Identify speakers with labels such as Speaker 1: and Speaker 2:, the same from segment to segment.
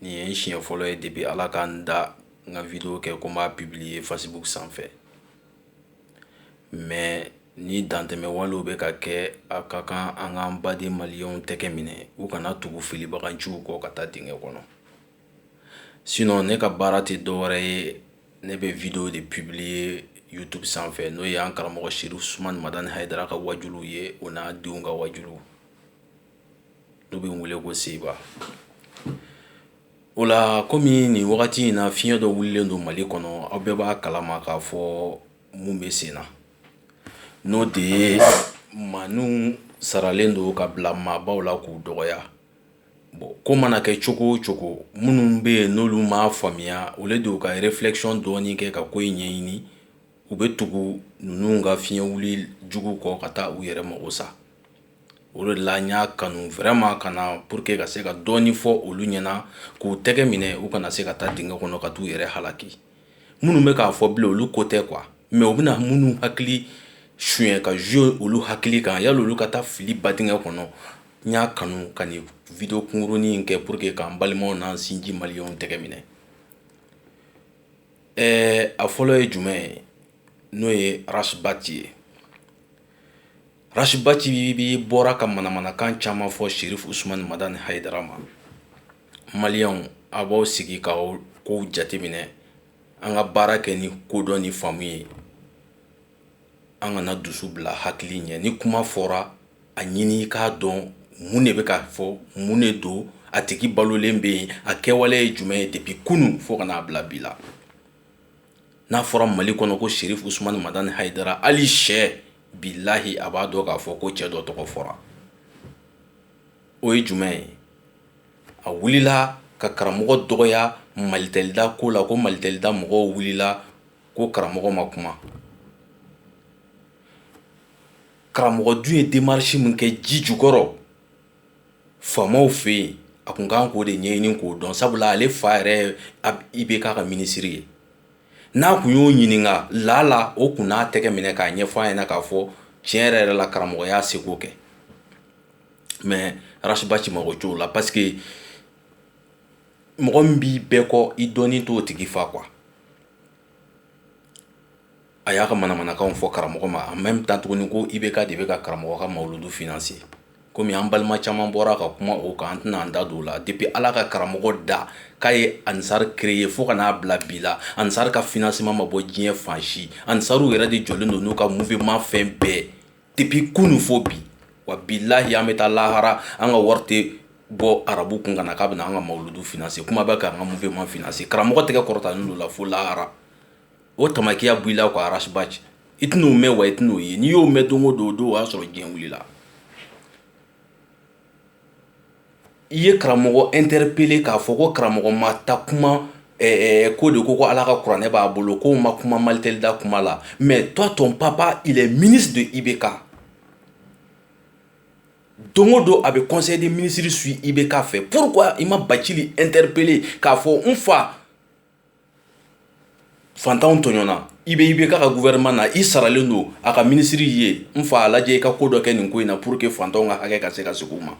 Speaker 1: Nin ye n siɲɛ fɔlɔ ye depuis ala ka n da n ka video kɛ ko n b'a publier facebook sanfɛ mais ni dantɛmɛ walew bɛ ka kɛ a ka kan an k'an baden maliyɛnw tɛgɛ minɛ u kana tugu filibaganciw kɔ ka taa dingɛ kɔnɔ sinɔn ne ka baara tɛ dɔwɛrɛ ye ne bɛ video de publier youtube sanfɛ n'o ye an karamɔgɔ serifu usumani madani hayidara ka wajuluw ye o n'a denw ka wajuluw n'u bɛ wele ko seba o la kɔmi nin wagati in na fiɲɛ dɔ wulilen don mali kɔnɔ aw bɛɛ b'a kalama k'a fɔ mun bɛ sen na n'o de ye maaninw saralen don ka bila maabaw la k'u dɔgɔya bon ko mana kɛ cogo o cogo minnu bɛ yen n'olu m'a faamuya au lieu de ka réflexion dɔɔni kɛ ka ko in ɲɛɲini u bɛ tugu ninnu ka fiɲɛ wuli jugu kɔ ka taa u yɛrɛ mako sa O de la n y'a kanu vraiment ka na pour que ka se ka dɔɔnin fɔ olu ɲɛna k'u tɛgɛ minɛ u kana se ka taa dingɛ kɔnɔ ka taa u yɛrɛ halaki minnu bɛ k'a fɔ bilen olu ko tɛ quoi mais u bɛna minnu hakili suɲɛ ka jouer olu hakili kan yala olu ka taa fili ba dingɛ kɔnɔ n y'a kanu ka nin video kunkurunin in kɛ pour que k'an balimaw n'an sinji maliyɛnw tɛgɛ minɛ ɛɛ a fɔlɔ ye jumɛn ye n'o ye Ras Bath ye Ras Bath bi bɔra ka manamanakan caman fɔ serifu usumani madani hayidara ma maliyɛnw a b'aw sigi ka kow jateminɛ an ka baara kɛ ni kodɔn ni faamu ye an kana dusu bila hakili ɲɛ ni kuma fɔra a ɲini k'a dɔn mun de bɛ ka fɔ mun de don a tigi balolen bɛ yen a kɛwale ye jumɛn ye depuis kunun fo ka n'a bila bi la n'a fɔra mali kɔnɔ ko serifu usumani madani hayidara hali sɛ bilahi a b'a dɔn k'a fɔ ko cɛ dɔ tɔgɔ fɔra o ye jumɛn ye a wulila ka karamɔgɔ dɔgɔya malitɛlida ko la ko malitɛlida mɔgɔw wulila ko karamɔgɔ ma kuma karamɔgɔ dun ye démarche min kɛ ji jukɔrɔ faamaw fɛ yen a kun kan k'o de ɲɛɲini k'o dɔn sabula ale fa yɛrɛ IBK ka minisiri ye n'a kun y'o ɲininka lala o kun n'a tɛgɛ minɛ k'a ɲɛfɔ a ɲɛna k'a fɔ tiɲɛ yɛrɛ yɛrɛ la karamɔgɔ y'a seko kɛ mais Ras Bath mako t'o la parce que mɔgɔ min b'i bɛɛ kɔ i dɔnni t'o tigi fa quoi a y'a ka manamanakanw fɔ karamɔgɔ ma en même temps tuguni ko IBK de bɛ ka karamɔgɔ ka mawludu financer komi an balima caman bɔra ka kuma o kan an tɛna an da don o la depuis Ala ka karamɔgɔ da k'a ye Ansar créer fo ka n'a bila bi la Ansar ka financement ma bɔ diɲɛ fan si Ansariw yɛrɛ de jɔlen don n'u ka mouvement fɛn bɛɛ depuis kunun fo bi wa bilahi an bɛ taa lahara an ka wari tɛ bɔ arabu kun ka na k'a bɛna an ka mawuludu financer kuma bɛ ka an ka mouvement financer karamɔgɔ tɛgɛ kɔrɔtalen don o la fo lahara o tamakiya bɔ i la quoi ras bath i tɛn'o mɛn wa i tɛn'o ye n'i y'o mɛn don o don o don o y'a sɔrɔ diɲɛ wilila i ye karamɔgɔ interpeller k'a fɔ ko karamɔgɔ ma ta kuma ko de ko ko ala ka kuranɛ b'a bolo ko ma kuma malitɛli da kuma la mais toi ton papa il est ministre de IBK don o don a bɛ conseil des ministres suivre IBK fɛ pourquoi i ma bacili interpeller k'a fɔ n fa fantanw tɔɲɔnna i bɛ IBK ka gouvernement na i saralen don a ka ministre y'i ye n fa a lajɛ i ka ko dɔ kɛ nin ko in na pour que fantanw ka hakɛ ka se ka segin u ma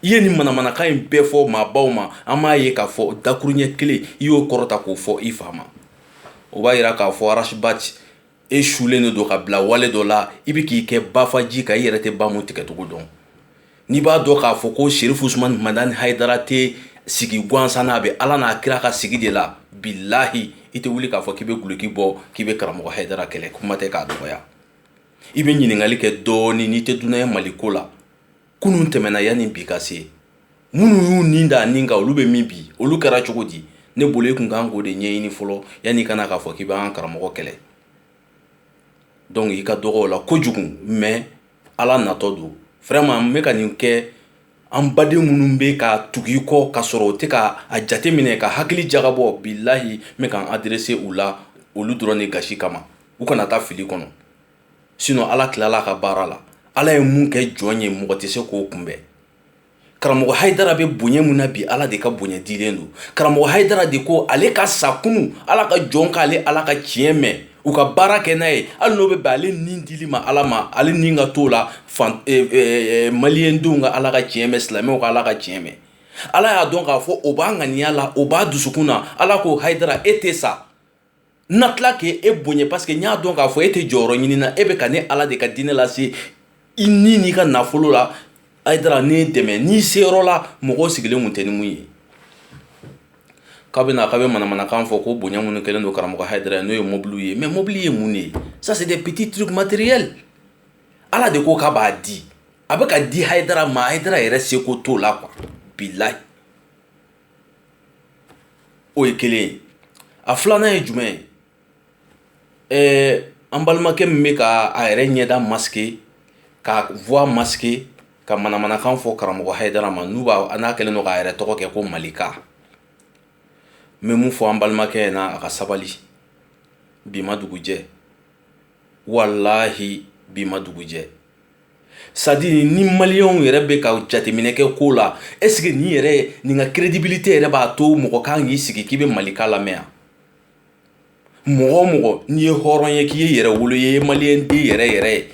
Speaker 1: i ye nin manamanakan in bɛɛ fɔ maabaw ma an m'a ye k'a fɔ dakuruɲɛ kelen i y'o kɔrɔta k'o fɔ i fa ma o b'a yira k'a fɔ ras bath e sulen de don ka bila wale dɔ la i bɛ k'i kɛ bafaji kan i yɛrɛ tɛ ba mu tigɛcogo dɔn n'i b'a dɔn k'a fɔ ko serifu usumani madani hayidara tɛ sigi gansan na a bɛ ala n'a kira ka sigi de la bilahi i tɛ wuli k'a fɔ k'i bɛ guloki bɔ k'i bɛ karamɔgɔ hayidara kɛlɛ kuma tɛ k'a dɔgɔya i bɛ ɲininkali kɛ dɔɔnin n'i tɛ dunan ye mali ko la kunun tɛmɛna yanni bi ka se minnu y'u nin da nin kan olu bɛ min bi olu kɛra cogo di ne bolo e tun kan k'o de ɲɛɲini fɔlɔ yanni i ka na k'a fɔ k'i b'an karamɔgɔ kɛlɛ donc i ka dɔgɔ o la kojugu mais ala natɔ don vraiment n bɛ ka nin kɛ an baden minnu bɛ ka tugu i kɔ ka sɔrɔ u tɛ ka a jate minɛ ka hakili jagabɔ bilahi n bɛ ka n adresser u la olu dɔrɔn de gasi kama u kana taa fili kɔnɔ sinon ala tilala ka baara la ala ye mun kɛ jɔn ye mɔgɔ tɛ se k'o kunbɛn karamɔgɔ hayidara bɛ bonya min na bi ala de ka bonya dilen don karamɔgɔ hayidara de ko ale ka sa kunun ala ka jɔn k'ale ala ka tiɲɛ mɛn u ka baara kɛ n'a ye hali n'o bɛ bɛn ale ni dili ma ala ma ale ni ka t'o la maliyɛndenw ka ala ka tiɲɛ mɛn silamɛw ka ala ka tiɲɛ mɛn ala y'a dɔn k'a fɔ o b'a ŋaniya la o b'a dusukun na ala ko hayidara e tɛ sa n na tila k' e bonya parce que n y'a dɔn k'a fɔ e tɛ jɔyɔrɔ ɲini na e bɛ ka ne ala de ka diinɛ lase i ni n'i ka nafolo la hayidara ne dɛmɛ n'i se yɔrɔ la mɔgɔ sigilen tun tɛ ni mun ye k'a bɛna k'a bɛ manamanakan fɔ ko bonya minnu kɛlen don karamɔgɔ hayidara ye n'o ye mobili ye mais mobili ye mun de ye ça c'est des petits trucs matériels ala de ko k'a b'a di a bɛ ka di hayidara ma hayidara yɛrɛ seko t'o la quoi bilahi o ye kelen ye a filanan ye jumɛn ye ɛɛ an balimakɛ min bɛ ka a yɛrɛ ɲɛda masquer ka voix masquer ka manamanakan fɔ karamɔgɔ Hayidara ma n'u b'a a n'a kɛlen don k'a yɛrɛ tɔgɔ kɛ ko Malika n bɛ mun fɔ an balimakɛ ɲɛna a ka sabali bi ma dugujɛ walahi bi ma dugujɛ c'est-à-dire ni maliyɛnw yɛrɛ bɛ ka jateminɛ kɛ ko la est-ce que nin yɛrɛ nin ka crédibilité yɛrɛ b'a to mɔgɔ kan k'i sigi k'i bɛ malika lamɛn mɔgɔ o mɔgɔ n'i ye hɔrɔn ye k'i ye yɛrɛ wolo ye maliyɛnden yɛrɛ yɛrɛ ye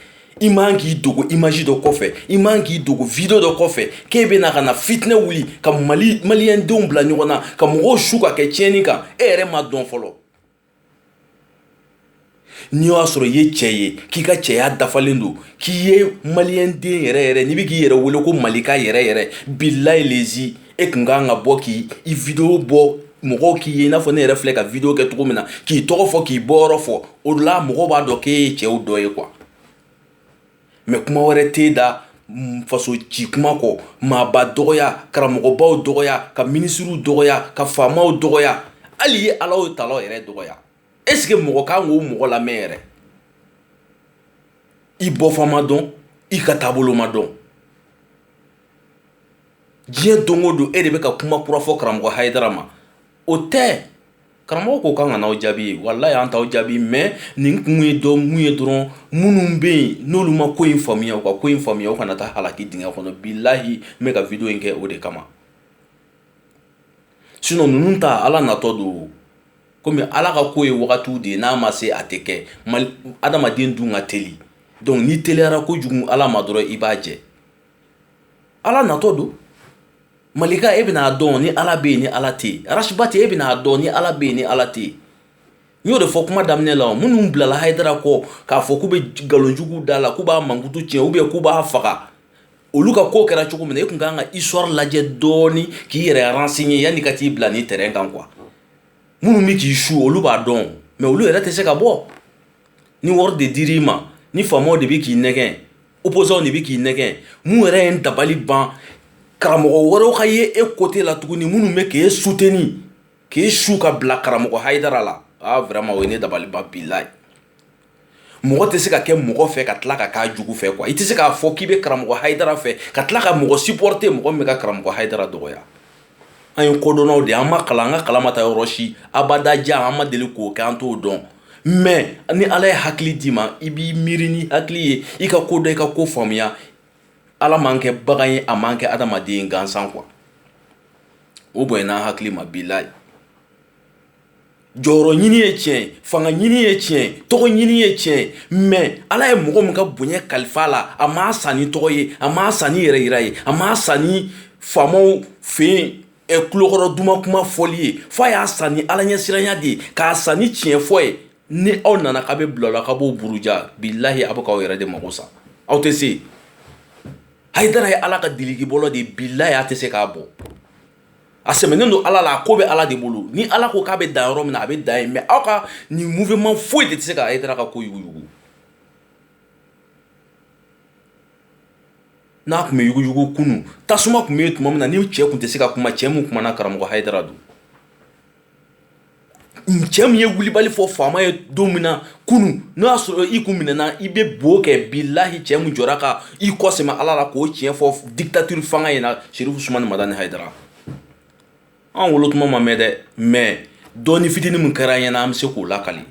Speaker 1: i man k'i dogo image dɔ kɔfɛ i man k'i dogo video dɔ kɔfɛ k'e bɛ na ka na fitinɛ wuli ka maliyɛndenw bila ɲɔgɔn na ka mɔgɔw su ka kɛ tiɲɛni kan e yɛrɛ ma dɔn fɔlɔ n'i y'a sɔrɔ i ye cɛ ye k'i ka cɛya dafalen don k'i ye maliyɛnden yɛrɛ yɛrɛ n'i bɛ k'i yɛrɛ wele ko malika yɛrɛ yɛrɛ bilahi lezi e kun ka kan ka bɔ k'i i video bɔ mɔgɔw k'i ye i n'a fɔ ne yɛrɛ filɛ ka video kɛ cogo min na k'i tɔgɔ fɔ k'i bɔyɔrɔ fɔ o la mɔgɔw b'a dɔn k'e ye cɛw dɔ ye quoi mais kuma wɛrɛ t'e da faso ci kuma kɔ maaba dɔgɔya karamɔgɔbaw dɔgɔya ka minisiriw dɔgɔya ka faamaw dɔgɔya hali ye alahu tala yɛrɛ dɔgɔya est-ce que mɔgɔ kan k'o mɔgɔ lamɛn yɛrɛ i bɔfan ma dɔn i ka taabolo ma dɔn diɲɛ don o don e de bɛ ka kuma kura fɔ karamɔgɔ Hayidara ma o tɛ karamɔgɔ ko k'an kan'aw jaabi walahi an t'aw jaabi mais nin kun ye dɔ mun ye dɔrɔn minnu bɛ yen n'olu ma ko in faamuya u ka ko in faamuya u kana taa halaki dingɛ kɔnɔ bilahi n bɛ ka video in kɛ o de kama sinon ninnu ta ala natɔ don komi ala ka ko ye wagatiw de ye n'a ma se a tɛ kɛ adamaden dun ka teli donc n'i teliyara kojugu ala ma dɔrɔn i b'a jɛ ala natɔ don malika e bɛn'a dɔn ni ala bɛ yen ni ala tɛ yen Ras Bath e bɛn'a dɔn ni ala bɛ yen ni ala tɛ yen n y'o de fɔ kuma daminɛ la minnu bilala Hayidara kɔ k'a fɔ k'u bɛ nkalonjugu da la k'u b'a mankutu tiɲɛ ou bien k'u b'a faga olu ka ko kɛra cogo min e kun ka kan ka histoire lajɛ dɔɔnini k'i yɛrɛ renseigner yanni ka t'i bila nin terrain kan quoi minnu bɛ k'i su olu b'a dɔn mais olu yɛrɛ tɛ se ka bɔ ni wari de dir'i ma ni faama de bɛ k'i nɛgɛn opposants de bɛ k'i nɛgɛn mun yɛrɛ ye n dabali ban karamɔgɔ wɛrɛw ka ye e côté la tuguni minnu bɛ k'e soutenir k'i su ka bila karamɔgɔ Hayidara la aa vraiment o ye ne dabali ban bilahi mɔgɔ tɛ se ka kɛ mɔgɔ fɛ ka tila ka k'a jugu fɛ quoi i tɛ se k'a fɔ k'i bɛ karamɔgɔ Hayidara fɛ ka tila ka mɔgɔ supporter mɔgɔ min bɛ ka karamɔgɔ Hayidara dɔgɔ an ye kodɔnnaw de an ma kalan an ka kalan ma taa yɔrɔ si abadajan an ma deli k'o kɛ an t'o dɔn mɛ ni ala ye hakili d'i ma i b'i miiri ni hakili ye i ka ko dɔn i ka ko faamuya ala m'an kɛ bagan ye a m'an kɛ adamaden gansan kuwa o bonyana hakili ma bilayi jɔyɔrɔ ɲini ye tiɲɛ ye fanga ɲini ye tiɲɛ ye tɔgɔ ɲini ye tiɲɛ ye mɛ ala ye mɔgɔ min ka bonya kalifa la a m'a san ni tɔgɔ ye a m'a san ni yɛrɛ yira ye a m'a san ni faamaw fɛ yen kulokɔrɔ duman kuma fɔli ye fo a y'a san ni ala ɲɛsiranya de ye k'a san ni tiɲɛ fɔ ye ni aw nana k'a bɛ bila a la ka b'o buruja bilayi aw bɛ k'aw yɛrɛ de mako sa aw tɛ se hayidara ye ala ka dilikibɔlɔ de ye bilayi a tɛ se k'a bɔ a sɛmɛnen don ala la a ko bɛ ala de bolo ni ala ko k'a bɛ dan yɔrɔ min na a bɛ dan yen mɛ aw ka nin mouvement foyi de tɛ se ka hayidara ka ko yuguyugu n'a tun bɛ yuguyugu kunun tasuma tun bɛ yen tuma min na ni cɛ tun tɛ se ka kuma cɛ min kumana karamɔgɔ hayidara don cɛ min ye wulibali fɔ faama ye don min na kunun n'o y'a sɔrɔ i kun minɛna i bɛ bo kɛ bilahi cɛ min jɔra ka i kɔsɛmɛ ala la k'o tiɲɛ fɔ dictature fanga in na serifu sumani madani hayidara an wolotuma ma mɛn dɛ mɛ dɔɔni fitinin min kɛra an ɲɛna an bɛ se k'o lakali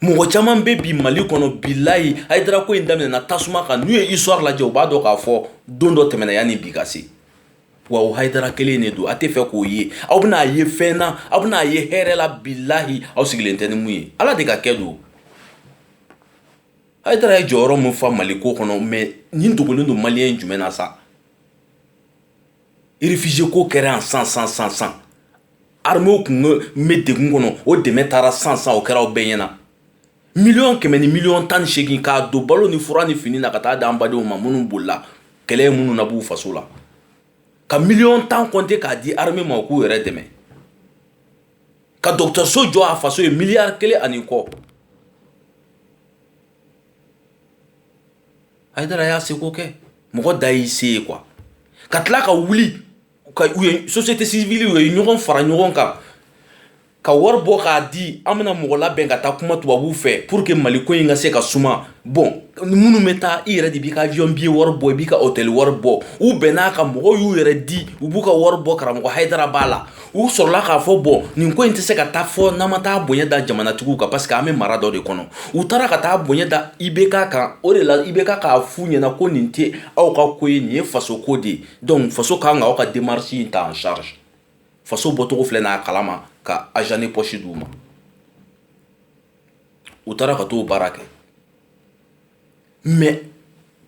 Speaker 1: mɔgɔ caman bɛ bi mali kɔnɔ bilayi hayidara ko in daminɛna tasuma kan n'u ye histoire lajɛ u b'a dɔn k'a fɔ don dɔ tɛmɛna yanni bi ka se wa o hayidara kelen de don a tɛ fɛ k'o ye aw bɛn'a ye fɛn na aw bɛn'a ye hɛrɛ la bilayi aw sigilen tɛ ni min ye ala de ka kɛ don hayidara ye jɔyɔrɔ min fa mali ko kɔnɔ mɛ nin dogolen don maliyɛn jumɛn na sa réfugié ko kɛra yan san san armée tun bɛ degun kɔnɔ o dɛmɛ taara san san o kɛra aw bɛɛ ɲɛna miliyɔn kɛmɛ ni miliyɔn tan ni segin k'a don balo ni fura ni fini na ka taa d'an badenw ma minnu bolila kɛlɛ minnu na b'u faso la ka miliyɔn tan kɔnte k'a di armée ma ko u k'u yɛrɛ dɛmɛ ka dɔgɔtɔrɔso jɔ a faso ye miliyari kelen ani kɔ hayidara y'a seko kɛ mɔgɔ dan y'i se ye kuwa ka tila ka wuli u ye société civile u ye ɲɔgɔn fara ɲɔgɔn kan ka wari bɔ k'a di an bɛna mɔgɔ labɛn ka taa kuma tubabuw fɛ pour que mali ko in ka se ka suma bɔn minnu bɛ taa i yɛrɛ de b'i ka avion billet wari bɔ i b'i ka hôtel wari bɔ u bɛnn'a kan mɔgɔw y'u yɛrɛ di u b'u ka wari bɔ karamɔgɔ hayidara b'a la u sɔrɔla k'a fɔ bɔn nin ko in tɛ se ka taa fo n'an ma taa bonya da jamanatigiw kan parce que an bɛ mara dɔ de kɔnɔ u taara ka taa bonya da ibk kan o de la ibk k'a f'u ɲɛna ko nin tɛ aw ka ko ye nin ye faso ko de ye donc faso ka kan ka aw ka demarche in ta en charge faso bɔcogo filɛ n'a kalama ka argent de poche d'u ma u taara ka t'o baara kɛ mais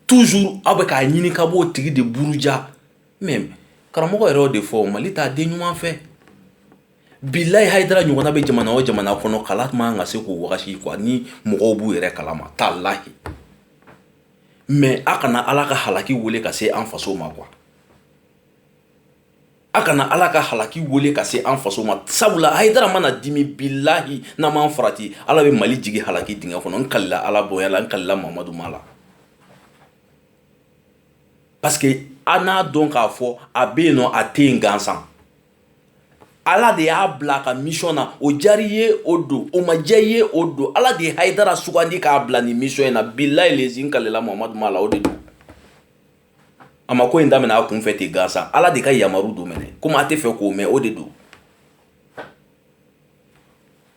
Speaker 1: toujours aw bɛ k'a ɲini ka b'o tigi de buruja mɛ karamɔgɔ yɛrɛ y'o de fɔ mali t'a den ɲuman fɛ bilayi hayidara ɲɔgɔnna bɛ jamana o jamana kɔnɔ kala man ka se k'o wagati kuwa ni mɔgɔw b'u yɛrɛ kala ma talayi mɛ aw kana ala ka halaki weele ka se an faso ma kuwa aw kana ala ka halaki weele ka se an faso ma sabula hayidara mana dimi bilayi n'an m'an farati ala bɛ mali jigin halaki dingɛ kɔnɔ n kalila ala bonya la n kalila mamadu ma la parce que an n'a dɔn k'a fɔ a bɛ yen nɔ a tɛ yen gansan ala de y'a bila a ka misɔn na o diyar'i ye o don o ma diya i ye o don ala de ye hayidara sugandi k'a bila ni misɔn in na bilayi lezi n kalela mamadu ma la o de don a ma ko in daminɛ a kunfɛ ten gansan ala de ka yamaru don minɛ komi a tɛ fɛ k'o mɛn o de don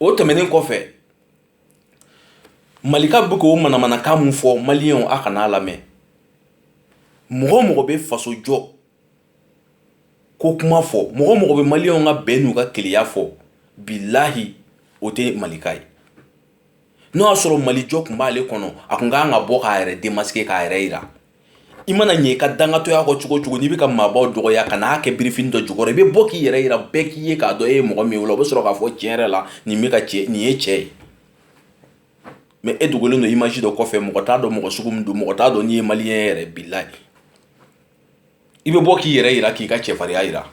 Speaker 1: o tɛmɛnen kɔfɛ malika bɛ k'o manamanakan min fɔ maliyɛnw a kan'a lamɛn mɔgɔ o mɔgɔ bɛ faso jɔ ko kuma fɔ mɔgɔ o mɔgɔ bɛ maliyɛnw ka bɛn n'u ka kelenya fɔ bilayi o tɛ malika ye n'o y'a sɔrɔ mali jɔ tun b'ale kɔnɔ a tun ka kan ka bɔ k'a yɛrɛ demasike k'a yɛrɛ yi i mana ɲɛ i ka dangatɔya kɔ cogo cogo n'i bɛ ka maabaw dɔgɔya ka n'a kɛ birifin dɔ jukɔrɔ i bɛ bɔ k'i yɛrɛ yira bɛɛ k'i ye k'a dɔn e ye mɔgɔ min ye o la o bɛ sɔrɔ k'a fɔ tiɲɛ yɛrɛ la nin bɛ ka cɛ nin ye cɛ ye mɛ e dogolen don imazi dɔ kɔfɛ mɔgɔ t'a dɔn mɔgɔ sugu min don mɔgɔ t'a dɔn n'i ye maliyɛn yɛrɛ bilayi i bɛ bɔ k'i yɛrɛ yira k'i ka cɛfarinya yira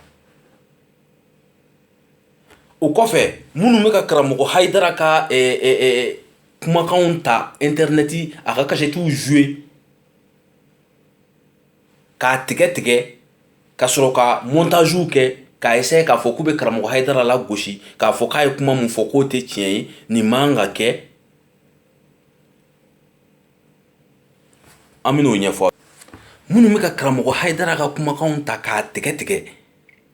Speaker 1: o kɔfɛ minnu bɛ ka karamɔgɔ hayidara ka kumakanw ta intɛrɛnɛti a ka kasɛtiw zuwe k'a tigɛ tigɛ ka sɔrɔ ka mɔntaziw kɛ k'a eseye k'a fɔ k'u bɛ karamɔgɔ hayidara lagosi k'a fɔ k'a ye kuma min fɔ k'o tɛ tiɲɛ ye nin man ka kɛ an bɛn'o ɲɛfɔ minnu bɛ ka karamɔgɔ hayidara ka kumakanw ta k'a tigɛ tigɛ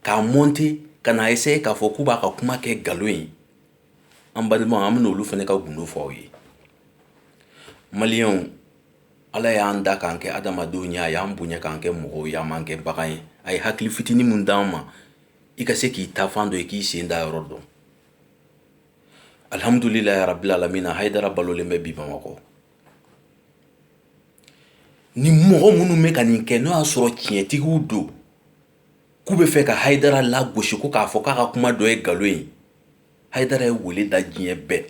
Speaker 1: k'a mɔnte ka n'a eseye k'a fɔ k'u b'a ka kuma kɛ nkalon ye an balimaw an bɛna olu fana ka gundo fɔ aw ye maliyɛnw ala y'an da k'an kɛ adamadenw ye a y'an bonya k'an kɛ mɔgɔw ye a m'an kɛ bagan ye a ye hakili fitinin min d'an ma i ka se k'i taafan dɔn i k'i sen da yɔrɔ dɔn alihamdulilayi rabili alamina hayidara balolen bɛ bi bamakɔ ni mɔgɔ minnu bɛ ka nin kɛ n'o y'a sɔrɔ tiɲɛtigiw don k'u bɛ fɛ ka hayidara lagosi ko k'a fɔ k'a ka kuma dɔ ye nkalon ye hayidara ye wele da diɲɛ bɛɛ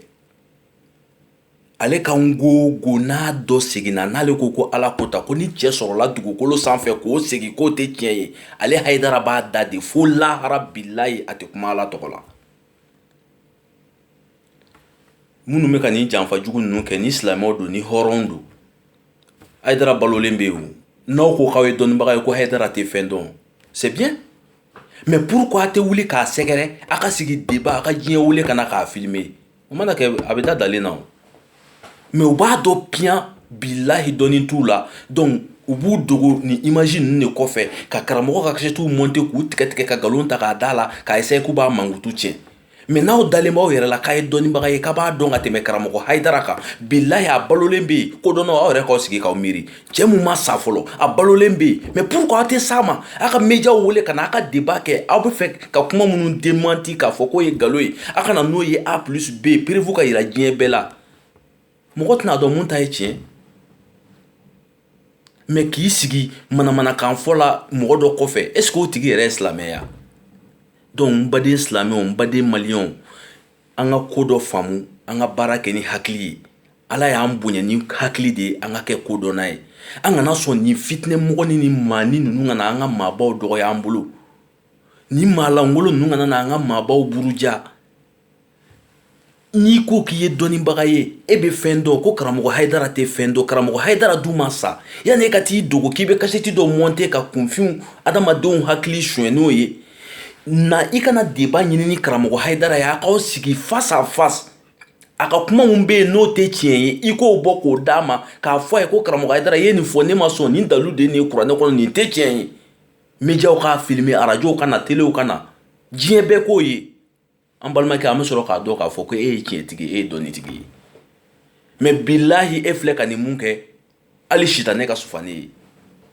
Speaker 1: ale kan ko ko n'a dɔ seginna n'ale ko ko ala ko ta ko ni cɛ sɔrɔla dugukolo sanfɛ k'o segin k'o tɛ tiɲɛ ye ale hayidara b'a da de fo lahara bilayi a tɛ kuma ala tɔgɔ la minnu bɛ ka nin janfa jugu ninnu kɛ ni silamɛw don ni hɔrɔn don haydara balolen bɛ yen n'aw ko k'aw ye dɔnnibaga ye ko haydara tɛ fɛn dɔn c'est bien mais pourquoi a tɛ wuli k'a sɛgɛrɛ a ka sigi débat a ka diɲɛ wele ka na k'a filmer o mana kɛ a bɛ da dalen na mais u b'a dɔn piyan bilayi dɔnni t'u la donc u b'u dogo ni image ninnu de kɔfɛ ka karamɔgɔ ka kasɛtiw monter k'u tigɛtigɛ ka nkalon ta k'a da la ka essayer k'u b'a mankutu tiɲɛ mais n'aw dalen b'aw yɛrɛ la k'aw ye dɔnnibaga ye k'aw b'a dɔn ka tɛmɛ karamɔgɔ haydara kan bilayi a balolen bɛ yen kodɔnnaw aw yɛrɛ k'aw sigi k'aw miiri cɛ min ma sa fɔlɔ a balolen bɛ yen mais pourquoi aw tɛ se a ma aw ka médiaw wele ka na aw ka débat kɛ aw bɛ fɛ ka kuma minnu démenti k'a fɔ k'o ye nkalon ye aw ka na n'o ye A plus B preuve ka jira diɲɛ bɛɛ la mɔgɔ tɛna dɔn mun ta ye tiɲɛ mais k'i sigi manamanakan fɔ la mɔgɔ dɔ kɔfɛ est-ce que o tigi yɛrɛ ye silamɛ ye wa donc n baden silamɛw n baden maliyɛnw an ka ko dɔ faamu an ka baara kɛ ni hakili ye ala y'an bonya ni hakili de ye an ka kɛ kodɔnna ye an kana sɔn ni fitinɛmɔgɔnin ni maanin ninnu kana an ka maabaw dɔgɔya an bolo ni maalankolon ninnu kana na an ka maabaw buruja n'i ko k'i ye dɔnnibaga ye e bɛ fɛn dɔn ko karamɔgɔ haydara tɛ fɛn dɔn karamɔgɔ haydara dun ma sa yanni e ka t'i dogo k'i bɛ kasɛti dɔ monter ka kunfinw adamadenw hakili sonya n'o ye na i ka na débat ɲini ni karamɔgɔ haydara ye aw k'aw sigi face à face a ka kuma min bɛ yen n'o tɛ tiɲɛ ye i k'o bɔ k'o d'a ma k'a fɔ a ye ko karamɔgɔ haydara ye nin fɔ ne ma sɔn nin dalu de nin kuranɛ kɔnɔ nin tɛ tiɲɛ ye médiaw k'a filmer arajow ka na telew ka na diɲɛ bɛɛ k'o ye an balimakɛ an bɛ sɔrɔ k'a dɔn k'a fɔ ko e ye tiɲɛtigi e ye dɔnnitigi ye mais bilahi e filɛ ka nin mun kɛ hali sitanɛ ka sufa n'e ye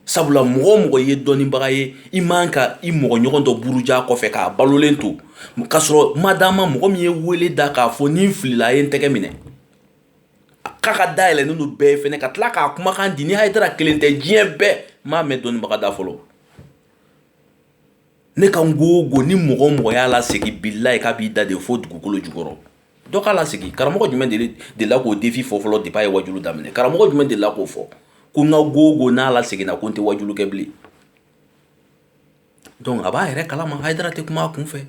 Speaker 1: sabula mɔgɔ o mɔgɔ ye dɔnnibaga ye i man ka i mɔgɔ ɲɔgɔn dɔ buruja kɔfɛ k'a balolen to k'a sɔrɔ i m'a d'a ma mɔgɔ min ye wele da k'a fɔ ni n filila a ye n tɛgɛ minɛ k'a ka da yɛlɛlen don bɛɛ ye fana ka tila k'a kumakan di ni haydara kelen tɛ diɲɛ bɛɛ m'a mɛn dɔnnibaga da fɔlɔ ne kan ko o ko ni mɔgɔ o mɔgɔ y'a lasegin bilayi k'a b'i da de fo dugukolo jukɔrɔ dɔ k'a lasegin karamɔgɔ jumɛn delila k'o défi fɔ fɔlɔ depuis a ye wajuli daminɛ karamɔgɔ jumɛn delila k'o fɔ ko n kan ko o ko n'a laseginna ko n tɛ wajuli kɛ bilen donc a b'a yɛrɛ kalama haydara tɛ kuma a kun fɛ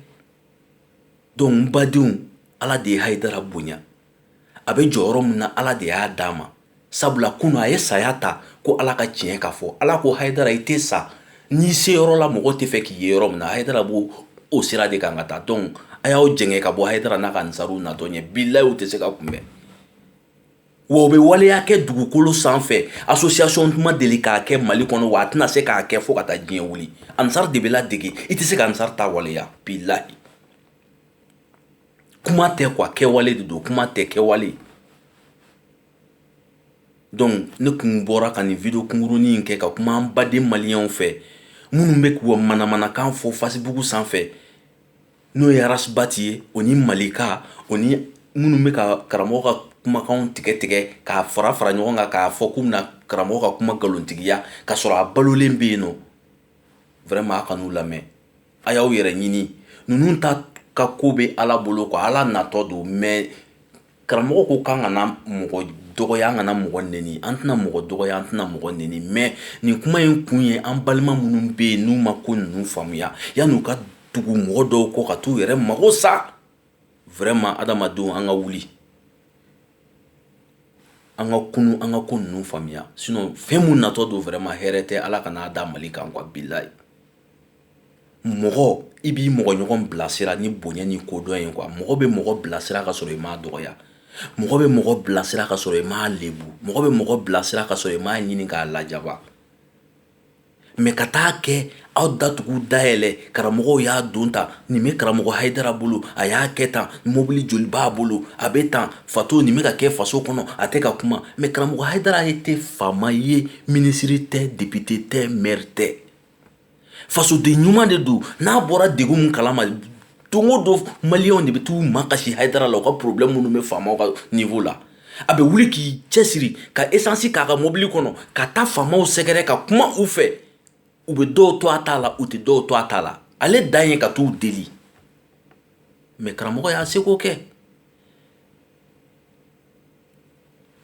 Speaker 1: donc n badenw ala de ye haydara bonya a bɛ jɔyɔrɔ min na ala de y'a d'a ma sabula kunun a ye saya ta ko ala ka tiɲɛ ka fɔ ala ko haydara i tɛ sa n'i se yɔrɔ la mɔgɔ tɛ fɛ k'i ye yɔrɔ min na haydara b'o sira de kan ka taa donc a y'aw jɛngɛ ka bɔ haydara n'a ka ansaruw natɔ ɲɛ bilayi u tɛ se ka kunbɛn wa u bɛ waleya kɛ dugukolo sanfɛ association tun ma deli k'a kɛ mali kɔnɔ wa a tɛna se k'a kɛ fo ka taa diɲɛ wuli ansar de bɛ ladege i tɛ se ka ansar ta waleya bilayi kuma tɛ kuwa kɛwale de don kuma tɛ kɛwale dɔnku ne kun bɔra ka nin wideyo kunkurunin in kɛ ka kuma an baden maliyɛnw fɛ minnu bɛ k'u manamanakan fɔ facebook sanfɛ n'o ye arasibati ye o ni malika o ni minnu bɛ ka karamɔgɔ ka kumakan tigɛ tigɛ k'a fara fara ɲɔgɔn kan k'a fɔ k'u bɛna karamɔgɔ ka kuma nkalontigiya ka sɔrɔ a balolen bɛ yen nɔ vraiment a kan'u lamɛn a y'aw yɛrɛ ɲini ninnu ta ka ko bɛ ala bolo kuwa ala natɔ don mɛ karamɔgɔ ko k'an kana mɔgɔ dɔgɔya an kana mɔgɔ neni an tɛna mɔgɔ dɔgɔya an tɛna mɔgɔ neni mɛ nin kuma in kun ye an balima minnu bɛ yen n'u ma ko ninnu faamuya yann'u ka tugu mɔgɔ dɔw kɔ ka taa u yɛrɛ mago sa vraiment adamadenw an ka wuli an ka kunun an ka ko ninnu faamuya sinon fɛn min natɔ don vraiment hɛrɛ tɛ ala kan'a da mali kan kuwa bilayi mɔgɔ i b'i mɔgɔ ɲɔgɔn bilasira ni bonya ni kodɔn ye kuwa mɔgɔ bɛ mɔgɔ bilasira ka sɔrɔ i m'a dɔgɔya mɔgɔ bɛ mɔgɔ bilasira ka sɔrɔ i m'a lebu mɔgɔ bɛ mɔgɔ bilasira ka sɔrɔ i m'a ɲini k'a lajaba mɛ ka taa kɛ aw datugu dayɛlɛ karamɔgɔw y'a don ta nin bɛ karamɔgɔ hayidara bolo a y'a kɛ tan mobili joli b'a bolo a bɛ tan fato nin bɛ ka kɛ faso kɔnɔ a tɛ ka kuma mɛ karamɔgɔ hayidara ye tɛ faama ye minisiri tɛ depite tɛ mɛri tɛ fasoden ɲuman de don n'a bɔra degun min kala ma don o don maliyɛnw de bɛ t'u makasi hayidara la u ka porobilɛmu minnu bɛ faamaw ka niwo la a bɛ wuli k'i cɛsiri ka esansi k'a ka mobili kɔnɔ ka taa faamaw sɛgɛrɛ ka kuma u fɛ u bɛ dɔw to a ta la u tɛ dɔw to a ta la ale dan ye ka t'u deli mɛ karamɔgɔ y'a seko kɛ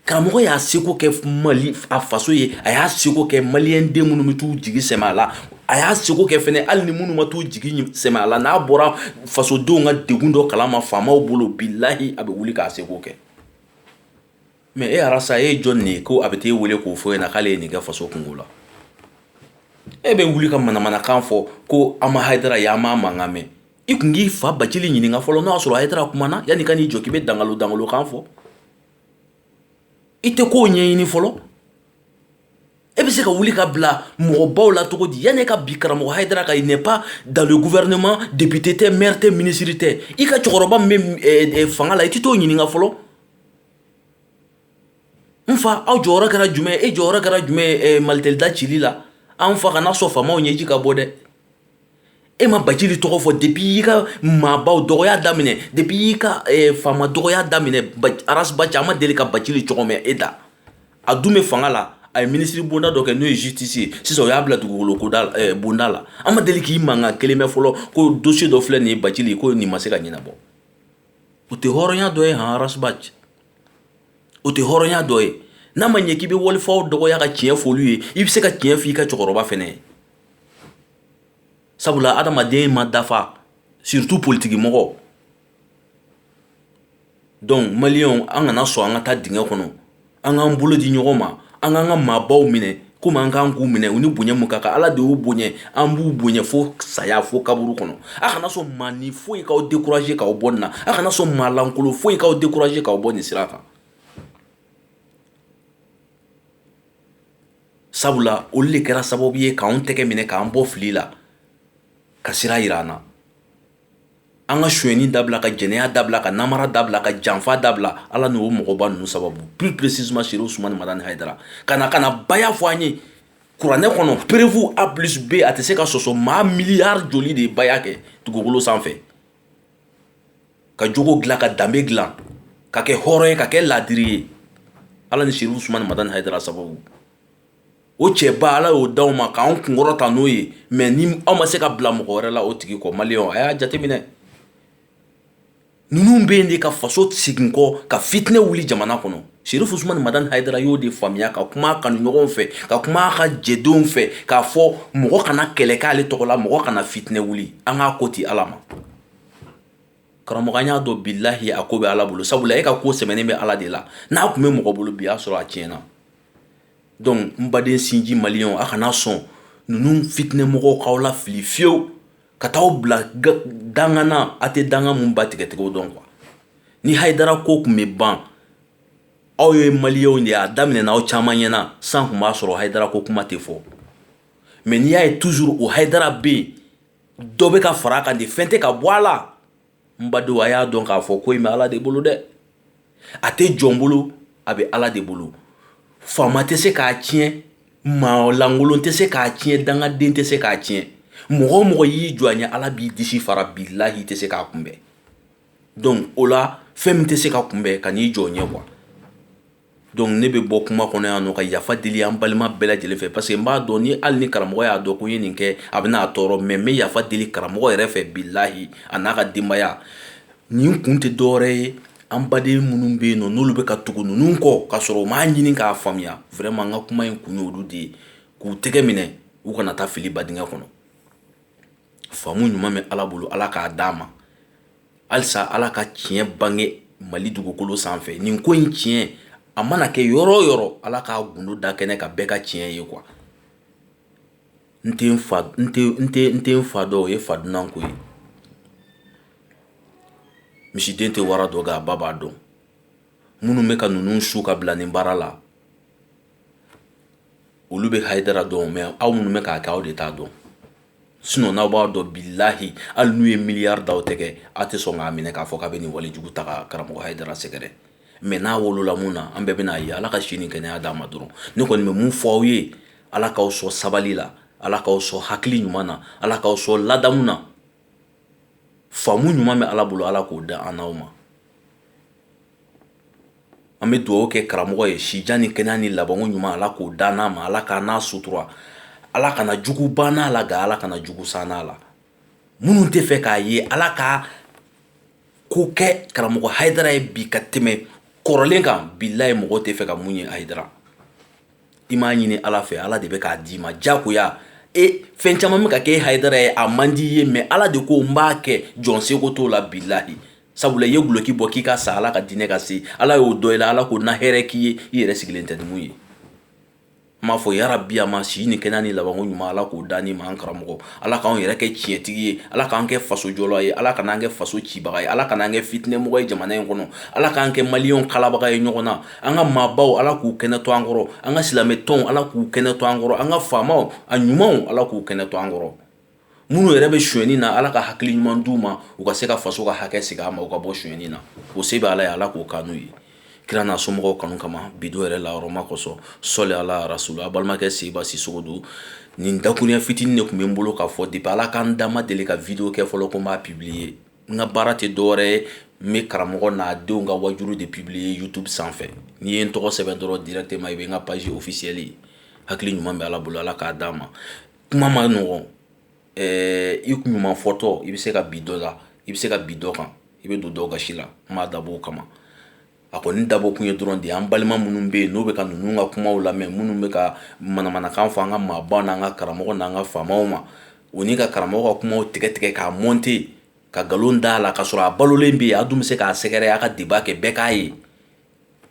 Speaker 1: karamɔgɔ y'a seko kɛ mali a faso ye a y'a seko kɛ maliyɛn den minnu bɛ t'u jigi sɛmɛ a la a y'a seko kɛ fɛnɛ hali ni minnu ma t'u jigi sɛmɛ a la n'a bɔra fasodenw ka degun dɔ kala ma faamaw bolo bilayi a bɛ wuli k'a seko kɛ mɛ e arasa e ye jɔnni ye ko a bɛ taa e weele k'o fɔ e ɲɛ na k'ale ye nin kɛ faso kunko la e bɛ wuli ka manamanakan fɔ ko an ma hayidara ye an m'a mankan mɛn i kun k'i fa bacili ɲininka fɔlɔ n'o y'a sɔrɔ hayidara kumana yann'i ka n'i jɔ k'i bɛ dangalo dangolokan fɔ i tɛ k'o ɲɛɲini fɔlɔ e bɛ se ka wuli ka bila mɔgɔbaw la cogo di yanni e ka bin karamɔgɔ hayidara kan il n'est pas dans le gouvernement depite tɛ mɛri tɛ minisiri tɛ i ka cɛkɔrɔba min bɛ fanga la i tɛ t'o ɲininka fɔlɔ n fa aw jɔyɔrɔ kɛra jumɛn e jɔyɔrɔ kɛra jumɛn malitɛli da cili la an fa kana sɔn faamaw ɲɛji ka bɔ dɛ e ma Bacili tɔgɔ fɔ depuis i ka maabaw dɔgɔya daminɛ depuis i ka eh, faama dɔgɔya daminɛ Aras Baci a ma deli ka Bacili tɔgɔ mɛn e da a dun bɛ fanga la a ye minisiri bonda dɔ kɛ n'o ye justice ye sisan o y'a bila dugukolo koda eh, bonda la an ma deli k'i mankan kelen mɛn fɔlɔ ko dossier dɔ filɛ nin ye Bacili ko nin ma se ka ɲɛnabɔ o tɛ hɔrɔnya dɔ ye han Aras Baci o tɛ hɔrɔnya dɔ ye n'a ma ɲɛ k'i bɛ walifaw dɔgɔya ka tiɲɛ f'olu ye i bɛ se ka tiɲɛ f'i ka cɛkɔrɔba fɛnɛ ye sabula adamaden ma dafa surtout politigi mɔgɔ dɔnku maliyɛnw an kana sɔn an ka taa dingɛ kɔnɔ an k'an bolo di ɲɔgɔn ma an k'an ka maabaw minɛ komi an kan k'u minɛ u ni bonya min ka kan ala de y'u bonya an b'u bonya fo saya fo kaburu kɔnɔ a kana sɔn maa ni foyi k'aw décourager k'aw bɔ nin na a kana sɔn maalankolon foyi k'aw décourager k'aw bɔ nin sira kan sabula olu de kɛra sababu ye k'an tɛgɛ minɛ k'an bɔ fili la ka sira jira an na an ka sonyɛni dabila ka jɛnɛya dabila ka namara dabila ka janfa dabila ala n'o mɔgɔba ninnu sababu plus précisément Serifu Usumani Madani Hayidara ka na ka na baya fɔ an ye kuranɛ kɔnɔ preuve A plus B a tɛ se ka sɔsɔ maa miliyari joli de ye baya kɛ dugukolo sanfɛ ka jogo dilan ka danbe dilan ka kɛ hɔrɔn ye ka kɛ laadiri ye ala ni Serifu Usumani Madani Hayidara sababu o cɛba ala y'o d'aw ma k'an kunkɔrɔta n'o ye mɛ ni aw ma se ka bila mɔgɔ wɛrɛ la o tigi kɔ maliyɛnw a y'a jateminɛ ninnu bɛ yen de ka faso segin kɔ ka fitinɛ wuli jamana kɔnɔ Serifu Usumani Madani Hayidara y'o de faamuya ka kuma a kanuɲɔgɔnw fɛ ka kuma a ka jɛdenw fɛ k'a fɔ mɔgɔ kana kɛlɛ kɛ ale tɔgɔ la mɔgɔ kana fitinɛ wuli an k'a ko to ala ma karamɔgɔ y'a dɔn bilahi a ko bɛ ala bolo sabula e ka ko sɛbɛnnen bɛ ala de la n'a tun bɛ mɔgɔ bolo bi y'a sɔrɔ a tiɲɛna na dɔnku n baden sinji maliyɛnw a kana sɔn ninnu fitinɛ mɔgɔw k'aw lafili fiyewu ka taa aw bila danga na a tɛ danga min ba tigɛcogo dɔn kuwa ni Hayidara ko tun bɛ ban aw ye maliyɛnw de ye a daminɛna aw caman ɲɛ na san tun b'a sɔrɔ Hayidara ko kuma tɛ fɔ mɛ n'i y'a ye toujours o Hayidara bɛ yen dɔ bɛ ka fara a kan de fɛn tɛ ka bɔ a la n badenw a y'a dɔn k'a fɔ ko in bɛ ala de bolo dɛ a tɛ jɔn bolo a bɛ ala de bolo faama tɛ se k'a tiɲɛ maalankolon tɛ se k'a tiɲɛ dangaden tɛ se k'a tiɲɛ mɔgɔ o mɔgɔ y'i jɔ a ɲɛ ala b'i disi fara bilahi tɛ se k'a kunbɛn dɔnku o la fɛn min tɛ se ka kunbɛn kan'i jɔ o ɲɛ kuwa donc ne bɛ bɔ kuma kɔnɔ yan nɔ ka yafa deli an balima bɛɛ lajɛlen fɛ parce que n b'a dɔn ni hali ni karamɔgɔ y'a dɔn ko n ye nin kɛ a bɛna a tɔɔrɔ mais n bɛ yafa deli karamɔgɔ yɛrɛ fɛ bilahi a n'a ka denbaya nin kun tɛ dɔwɛrɛ ye an baden minnu bɛ yen nɔ n'olu bɛ ka tugu ninnu kɔ k'a sɔrɔ u m'a ɲini k'a faamuya vraiment n ka kuma in kun y'olu de ye k'u tɛgɛ minɛ u kana taa fili badingɛ kɔnɔ faamu ɲuman bɛ ala bolo ala k'a d'a ma halisa ala ka tiɲɛ bange mali dugukolo sanfɛ nin ko in tiɲɛ a mana kɛ yɔrɔ o yɔrɔ ala k'a gundo da kɛnɛ kan bɛɛ ka tiɲɛ ye quoi n tɛ n fa dɔn o ye fa dunan ko ye misiden tɛ wara dɔn nka a ba b'a dɔn minnu bɛ ka ninnu su ka bila nin baara la olu bɛ hayidara dɔn mais aw minnu bɛ k'a kɛ aw de t'a dɔn sinon n'aw b'a dɔn bilahi hali n'u ye miliyari d'aw tɛgɛ aw tɛ sɔn k'a minɛ k'a fɔ k'a bɛ nin walejugu ta ka karamɔgɔ hayidara sɛgɛrɛ mais n'a wolola min na an bɛɛ bɛn'a ye ala ka si ni kɛnɛya d'a ma dɔrɔn ne kɔni bɛ mun fɔ aw ye ala k'aw sɔn sabali la ala k'aw sɔn hakili ɲuman na ala k'aw sɔn ladamu na faamu ɲuman bɛ ala bolo ala k'o da an n'aw ma an bɛ dugawu kɛ karamɔgɔ ye sijan ni kɛnɛya ni labanko ɲuman ala k'o d'an n'a ma ala k'an n'a sutura ala kana jugu ban a la nka ala kana jugu sɔn a la minnu tɛ fɛ k'a ye ala ka ko kɛ karamɔgɔ hayidara ye bi ka tɛmɛ kɔrɔlen kan bilahi mɔgɔ tɛ fɛ ka mun ye hayidara i m'a ɲini ala fɛ ala de bɛ k'a d'i ma jagoya fɛn caman bɛ ka kɛ hayidara ye a man di ye mais ala de ko n b'a kɛ jɔn seko t'o la bilahi sabula i ye duloki bɔ k'i ka sa ala ka diinɛ ka se ala y'o dɔn i la ala ko na hɛrɛ k'i ye i yɛrɛ sigilen tɛ ni mun ye n m'a fɔ yarabi a ma si ni kɛnɛya ni labanko ɲuman ala k'o d'an n'i ma an karamɔgɔ ala k'an yɛrɛ kɛ tiɲɛtigi ye ala k'an kɛ faso jɔla ye ala kan'an kɛ faso cibaga ye ala kan'an kɛ fitinɛmɔgɔ ye jamana in kɔnɔ ala k'an kɛ maliyɛnw kalabaga ye ɲɔgɔn na an ka maabaw ala k'u kɛnɛ to an kɔrɔ an ka silamɛ tɔnw ala k'u kɛnɛ to an kɔrɔ an ka faamaw a ɲumanw ala k'u kɛnɛ to an kɔrɔ minnu yɛrɛ bɛ sonyɛni na ala ka hakili ɲuman d'u ma u ka se ka faso ka hakɛ segin a ma u ka bɔ sonyɛni na o se bɛ ala ye ala k'o k'an n'u ye kira n'a somɔgɔw kanu kama bi don yɛrɛ lahɔrɔma kosɔn sɔli ala rasulu a balimakɛ seba sisoko don nin dakuruɲɛ fitinin de tun bɛ n bolo k'a fɔ depuis ala ka n da n ma deli ka video kɛ fɔlɔ ko n b'a publier n ka baara tɛ dɔwɛrɛ ye n bɛ karamɔgɔ n'a denw ka wajuru de publier youtube sanfɛ n'i ye n tɔgɔ sɛbɛn dɔrɔn directement i bɛ n ka page officielle ye hakili ɲuman bɛ ala bolo ala k'a d'a ma kuma ma nɔgɔn ɛɛ i ɲuman fɔtɔ i bɛ se ka bin dɔ la i bɛ se ka bin dɔ kan i bɛ don dɔw gasi la n m'a dabɔ o kama a kɔni dabɔ kun ye dɔrɔn de ye an balima minnu bɛ yen n'o bɛ ka ninnu ka kumaw lamɛn minnu bɛ ka manamanakan fɔ an ka maabaw n'an ka karamɔgɔ n'an ka faamaw ma o ni ka karamɔgɔ ka kumaw tigɛ tigɛ k'a monter ka nkalon d'a la k'a sɔrɔ a balolen bɛ yen a dun bɛ se k'a sɛgɛrɛ a ka débat kɛ bɛɛ k'a ye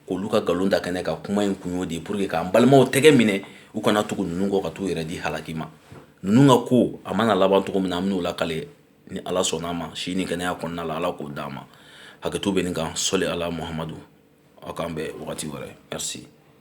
Speaker 1: k'olu ka nkalon da kɛnɛ kan kuma in kun y'o de ye pour que k'an balimaw tɛgɛ minɛ u kana tugu ninnu kɔ ka t'u yɛrɛ di halaki ma ninnu ka ko a mana laban cogo min na an bɛn'o lakale ni ala sɔnna an ma si ni kɛnɛya kɔnɔna la ala k'o d'an ma hakɛto bɛ nin kan sɔli ala muhamadu aw k'an bɛn wagati wɛrɛ merci